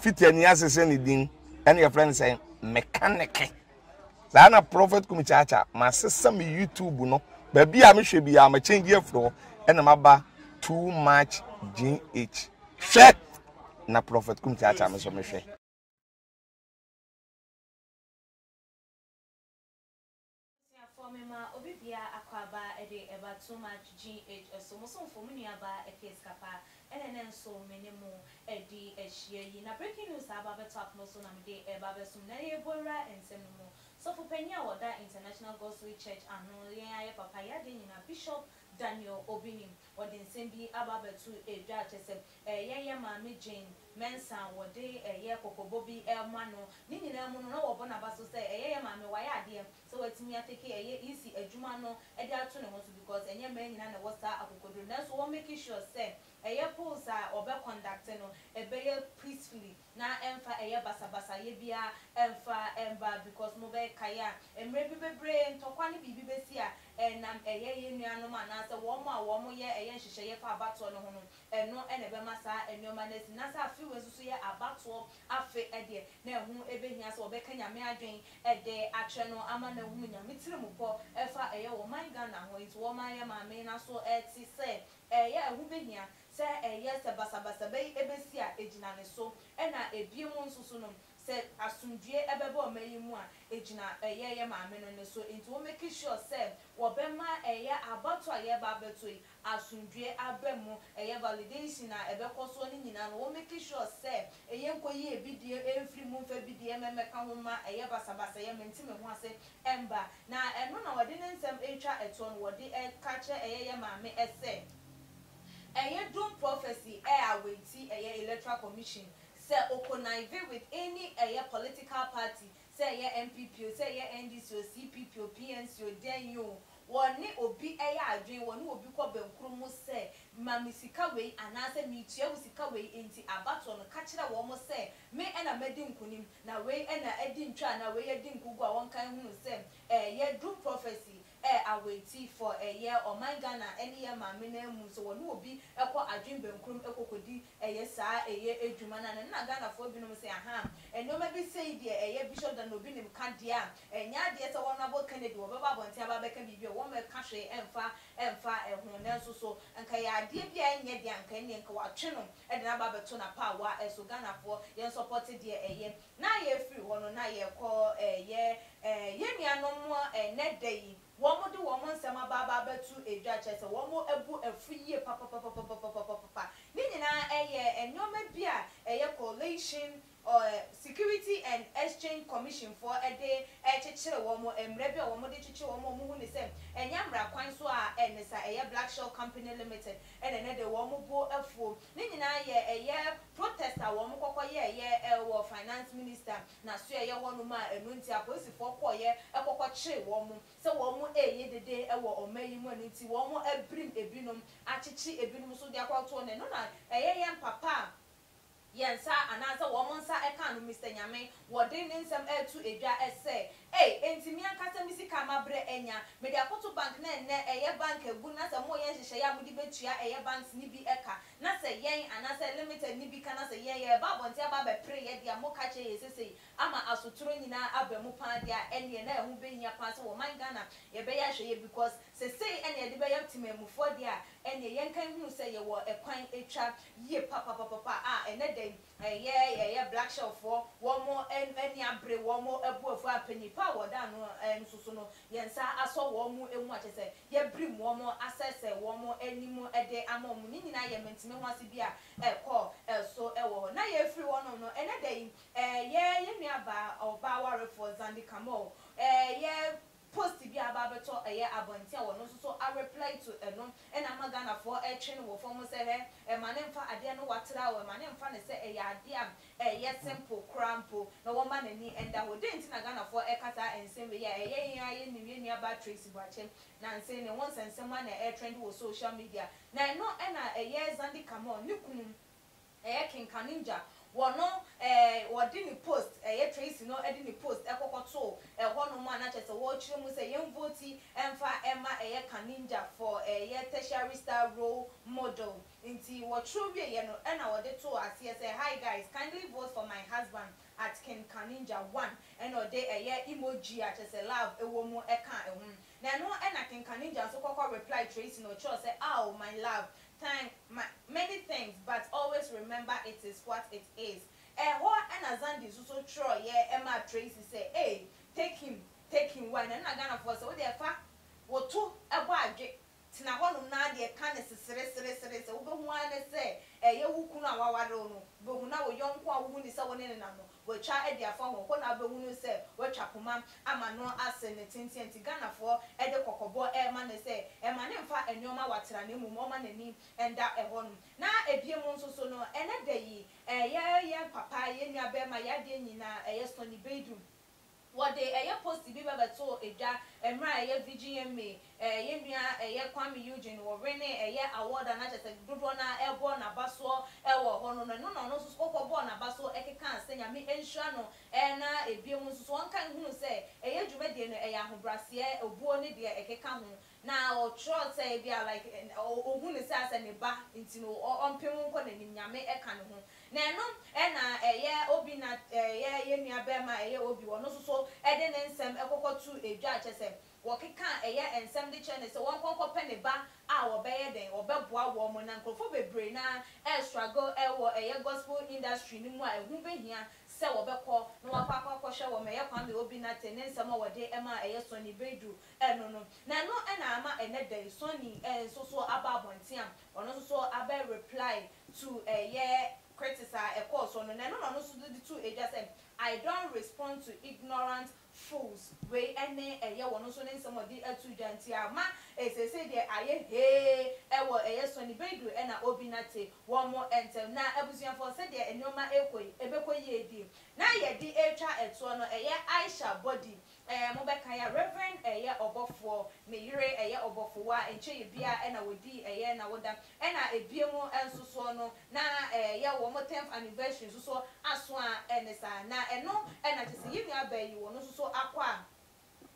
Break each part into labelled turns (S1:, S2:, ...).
S1: Fiti ani ase sɛ ne din ɛna yɛfrɛ no sɛ mekaneke. Saa na Prophet Kumi Kyaakyaa masesa me YouTube no baabi a mehwɛ biara ma change afiri hɔ ɛna maba too much GH. Hwɛ na Prophet Kumi Kyaakyaa me nso mehwɛ.
S2: Abusuafoɔ me ma obi bia akwaaba ɛde ɛba too much GH ɛso mo somfo mo nua baa ɛkɛ sika paa ɛna ɛnɛ nso me ne mo ɛdi ɛhyia yi na breaking news aba abɛtɔ akoma so na me de ɛba abɛsom na yɛɛ bɔ wura nsɛm no mu sɔfo panyin a ɔda International Gospel Church ano yɛn ayɛ papa yɛ adeɛ nyinaa Bishop Daniel Obinim ɔde nsɛm bi aba abɛto ɛdwa kyɛsɛ Ɛyɛ yɛ maame Jane Mensah wɔde yɛ kɔkɔbɔ bi ma no. Ne nyinaa mu no, na wɔbɔ n'aba so sɛ ɛyɛ yɛ maame wayɛ adeɛ sɛ watumi atake ɛyɛ EC adwuma no de ato ne ho so because ɛnyɛ mmaa nyinaa na ɛwɔ saa akokoduro no. Nanso wɔ make sure sɛ ɛyɛ polls a wɔbɛ conduct no ɛbɛyɛ peacefully na ɛmfa ɛyɛ basabasayɛ biara mfa mma because mo bɛ kae a mmerɛ bi bebree ntɔkwa ne biribi bɛsi a ɛnam ɛyɛ yɛn nuanom anaasɛ wɔn a wɔyɛ ɛyɛ nhyehyɛeɛ fa abatoɔ no ho no Ɛno na ɛbɛma saa nneɛma no asi. Na sɛ afe wei nso so yɛ abatoɔ afe deɛ, na ɛho bɛhia sɛ wɔbɛka Nyame adwene de akyerɛ no ama no ahunu Nyame tirimupɔ fa ɛyɛ wɔ ɔman Ghana ho. Enti wɔma yɛ Maame no aso te sɛ ɛyɛ ɛho bɛhia sɛ ɛyɛ sɛ basabasa bɛyi bɛsi a, ɛgyina ne so. Ɛna ɛbiom nso so no, sɛ asomdwoeɛ bɛba ɔman yi mu a, ɛgyina ɛyɛ yɛ Maame no ne so. Enti wɔ make sure sɛ wɔbɛma ɛyɛ abatoɔ a yɛreba abɛto yi asomdwoeɛ aba mu, ɛyɛ validation a ɛbɛkɔ soɔ no nyinaa no wɔ make sure sɛ ɛyɛ nkɔyie bidie ɛmfiri mu mfa bidie mmɛka ho mma ɛyɛ basabasayɛ mente me ho ase mma na ɛno na wɔde ne nsɛm retwa toɔ no wɔde reka kyerɛ ɛyɛ yɛ maame ɛsɛ ɛyɛ dom prophecy ɛyɛ awaiti ɛyɛ electoral commission sɛ ɔconnive with any ɛyɛ political party Sɛ ɛyɛ NPP o, sɛ ɛyɛ NDC o, CPP o, PNC o, dɛn o, wɔne obi yɛ adwene, wɔne obi kɔ bɛnkuro mu sɛ, ma me sika wei anaasɛ meretua wo sika wei, enti abatoɔ no, ka kyerɛ wɔn sɛ, me na madi nkonim, na wei na adi ntwa anaa wei adi nkogu a wɔnka nhunu sɛ ɛyɛ doom prophecy, ɛ awɛtifoɔ ɛ yɛ ɔman Ghana ɛ ne yɛ maame no amu sɛ wɔne obi ɛ kɔ adwene bɛnkurom ɛ kɔkɔdi ɛ yɛ saa ɛ yɛ adwuma no ano na Ghanafoɔ binom se ahaa ɛ nnoɔma bi sei deɛ ɛ yɛ Bishop Daniel Obinim ka deɛ a ɛ nyɛ adeɛ sɛ wɔn abɔ Kennedy wɔbɛba abɔnten aba abɛka biribi ɛ wɔn ɛka hwee ɛ mfa ɛ mfa ɛ ho nanso so nka ɛyɛ adeɛ bi a ɛ nyɛ deɛ anka ɛneɛ nka wɔatwe no ɛ de no aba abɛto n'apaawa ɛ so Ghanafoɔ yɛn sɔpɔte deɛ ɛ yɛ Na yɛfiri hɔ no, na yɛkɔ eh, yɛ eh, yɛn nuanom mu eh, nnɛ da yi, wɔn de wɔn nsɛm aba aba abɛto dwa, kyerɛ sɛ wɔn abu afu yie papapapapapapapapa. Ne nyinaa eh, yɛ eh, nneɛma bi a eh, yɛ Coalition eh, Security and Exchange Commission foɔ eh, de eh, kyekyere wɔn, eh, mmara bi a wɔn de kyekyere wɔn a wɔn hu no sɛ ɛnyɛ mmara kwan so a eh, ne saa, ɛyɛ Black Shell Company Limited na ɛnnɛ da yi wɔn bo afuo. Ne nyinaa yɛ ɛyɛ protest a wɔn kɔkɔ yɛ yɛ wɔ finance minister na so ɛyɛ hɔ nom a ɛno nti apolisifoɔ kɔɔ yɛ kɔkɔ kyere wɔn sɛ wɔn ɛyɛ dede wɔ ɔman yi mu ɛno nti wɔn abirim ɛbi nom akyekye ɛbi nom so de akɔ to ne no na ɛyɛ yɛ mpapa a yɛ nsa anaa sɛ wɔn nsa ɛkaa no Mister Nyame Wɔde ne nsɛm reto dwa sɛ, Ei, enti me ankasa me sika a mabrɛ anya, mede akɔto bank na ɛnnɛ ɛyɛ bank agu na sɛ moreyɛ nhyehyɛeɛ a mode bɛtua ɛyɛ banks no bi ka na sɛ yɛn anaasɛ limited no bi ka na sɛ yɛn yɛreba abɔnten aba abɛpere yɛn deɛ a moka kyerɛ yɛn sesei ama asotorɔ nyinaa aba mu paa deɛ a ɛnneɛ na ɛho bɛhia paa sɛ wɔ ɔman Ghana yɛbɛyɛ ahwɛyɛ because sesei ɛna yɛde bɛyɛ temanmufoɔ deɛ a ɛnneɛ yɛnka nhunu sɛ yɛwɔ ɛkwan ɛtwa yie papapapapa a ɛnnɛ da yi Ɛyɛ ɛyɛ black shelf foɔ wɔn ani abere wɔn abu afu a panyin pa a wɔda ano nso so no yɛn nsa asɔ wɔn mu a kyerɛ sɛ yɛabirim wɔn asɛesɛe wɔn anim de ama wɔn ne nyinaa yɛ mantimi ho ase bi a ɛkɔ so wɔ hɔ na yɛafiri hɔnom no ɛnɛ da yi ɛyɛ yɛn nuabaa ɔbaa warefoɔ Zandi Kamau ɛyɛ Post bi a aba abɛtɔ ɛyɛ abɔnten a ɔno nso so areply to ɛno na ama Ghanafoɔ retwe no wɔ fam mu sɛ hɛ, ɛma no mfa adeɛ no watra o, ɛma no mfa no sɛ ɛyɛ adeɛ a ɛyɛ simple koraa mpo na wɔmma n'ani nda hɔ. Dɛn nti na Ghanafoɔ reka saa nsɛm wei a ɛyɛ yɛn ara yɛnim yɛn nuabaa Tracy Boakye Nantse ne ho nsɛnsɛm a na ɛretrɛnde wɔ social media na ɛno na ɛyɛ Zandi Kamau ne kunu Ɛyɛ kenkaninja wɔ no ɛɛ wɔde ne post ɛyɛ Tracy no ɛde ne post ɛkɔkɔ too ɛhɔ nom a na kyerɛ sɛ wɔrekyerɛ mu sɛ yɛn vote ɛmfa ɛma ɛyɛ kaninja for ɛyɛ tertiary star role model nti wɔtwerɛ wieɛ no ɛna wɔde too aseɛ sɛ hi guys kindly vote for my husband at kenkaninja one ɛna ɔde ɛyɛ emoji a kyerɛ sɛ love ɛwɔ mu ɛkaa ɛho na ɛno ɛna kenkaninja nso kɔkɔ reply Tracy na ɔkyerɛw sɛ aw my love Thank my many things but always remember it is what it is ɛhɔ na Zandi nso so twerɛeɛ maa Tracy sɛ ei take him take him why na ɛno na Ghanafoɔ sɛ wodeɛ fa wo to bɔ adwe tena hɔnom na ara deɛ ka ne sesereseresere sɛ wobɛhu ara ne sɛ ɛyɛ wo kunu a waware wo no bɛhu na wo yɔnko a wohu ne sɛ wo ne no nam no Watwa adi afa hɔ hɔ na wobɛhunu sɛ watwa poma ama no ase ne tenteɛ nti Ghanafoɔ de kɔkɔbɔ rema no sɛ mma no mfa nnoɔma watra na mmom ɔmma n'ani nda hɔ nom. Na ɛbiom nso so no ɛnɛ da yi yɛn papa, yɛn nuabarima, yɛn adeɛ nyinaa ɛyɛ Sonny Baidu. Wɔde ɛyɛ posti bi bɛbɛtoo dwa mmerɛ a ɛyɛ Virginia May, ɛɛ yɛn nua ɛyɛ Kwame Eugene wɔ wene ɛyɛ award a na kyerɛ sɛ dodoɔ no ara ɛrebɔ n'abasoɔ ɛwɔ hɔ no, na ɛno na ɔno nso so kɔkɔ bɔɔ n'abasoɔ ɛkekaa sɛ Nyame nhyira no ɛɛ na ɛbiem nso so ɔnka nhunu sɛ ɛyɛ dwumadie no ɛyɛ ahobraseɛ, obuo ne deɛ ɛkeka ho. Na ɔtwerɛɛ sɛ ebia like ɔhu no sɛ asɛ ne ba nti no ɔmpe ho nkɔ n'anim, Nyame ɛka ne ho. Na ɛno ɛna ɛyɛ Obi na ɛyɛ yɛn nua bɛɛma ɛyɛ Obi, ɔno nso so ɛde ne nsɛm ɛkɔkɔ to edwa, kyerɛ sɛ wɔkeka ɛyɛ nsɛm de kyerɛ no sɛ wɔnkɔ nkɔ pɛ ne ba a wɔbɛyɛ dɛn, wɔbɛboa wɔn. Na nkorɔfoɔ bebree no ara ɛrestruggle ɛwɔ ɛyɛ gospel industry no mu a ɛho bɛhia sɛ wɔbɛkɔ na wɔakɔ akɔ akɔhwɛ wɔn, ɛyɛ Kwame Obinate ne nsɛm a wɔde ɛma ɛyɛ Sonny Baidu Ɛno no, na ɛno na ama ɛnnɛ da yi Sonny nso so aba abɔnten a ɔno nso so abɛ reply to ɛyɛ critics a ɛkɔɔ soɔ no, na ɛno na ɔno nso de too dwa sɛ I don't respond to ignorant fools, wei ne ɛyɛ ɔno nso ne nsɛm a ɔde too dwa, nti ama seesei deɛ ayɛ hee wɔ ɛyɛ Sonny Baidu ɛna Obi Nate wɔn ntɛm. Na abusuafoɔ sɛdeɛ nneɛma rekɔ yi, ɛbɛkɔ yie die na yɛde retwa toɔ no, ɛyɛ Aisha Body Eh mobɛkae a Reverend ɛyɛ ɔbɔfoɔ, ne yere ɛyɛ ɔbɔfowa, nkyɛɛ biaa ɛna wɔdii ɛyɛ nawoda, ɛna ɛbiemu nsosoɔ no na ɛyɛ wɔn tenth anniversary nsosoɔ aso a ɛne saa, na ɛno ɛna kyɛsɛ yɛn nua baa yi wɔn nsoso akɔ a,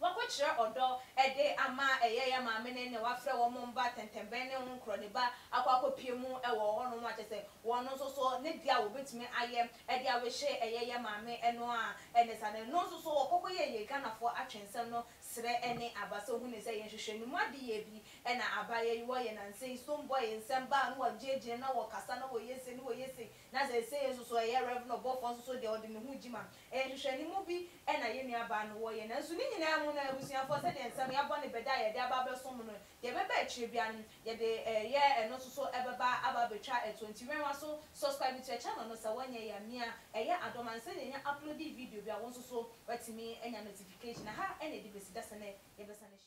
S2: wakɔ kyerɛ ɔdɔ ɛde ama ɛyɛ yɛn maame no ne wafrɛ wɔn mba tɛntɛnbɛn ne nkorɔ ne ba akɔ akɔ pie mu ɛwɔ hɔ nom a kyɛsɛ wɔn nsoso ne deɛ a wɔbɛtumi ayɛ Ɛde awehyɛ ɛyɛ yɛ maame ɛno a ɛne saa no ɛno nso so ɔkɔ kɔ yɛ yɛ Ghanafoɔ atwensɛm no srɛ ɛne aba sɛ ɔhunu sɛ yɛn hwehwɛ ne mu adeyɛ bi ɛna aba yɛ wɔ yɛ nansa yi stoned boy nsɛm baa no wɔ gyina gyina na wɔ kasa na wɔ yɛ sei na wɔ yɛ sei na seisei nso so ɛyɛ Rev no ɔbɔfoɔ nso so deɛ ɔde ne ho gyima ɛyɛ nhwehwɛ ne mu bi ɛna yɛ nua baa no wɔ yɛ nanso ne nyinaa mu no abusuafoɔ sɛdeɛ nsɛm yɛ abɔ ne bɛ da a yɛde aba abɛsom no Deɛ ɛbɛba akyire biara no yɛde ɛyɛ ɛno nso so ɛbɛba aba abɛtwa ɛtoɔ nti wɛn w'aso subscribe to yɛ channel no sɛ wonyɛ yɛ a mia ɛyɛ adom ansa na yɛnya uploadi video bi a wo nso so watumi anya notification ɛha ɛna ɛdi bɛsi da sɛ nɛ yɛbɛsane ahyia.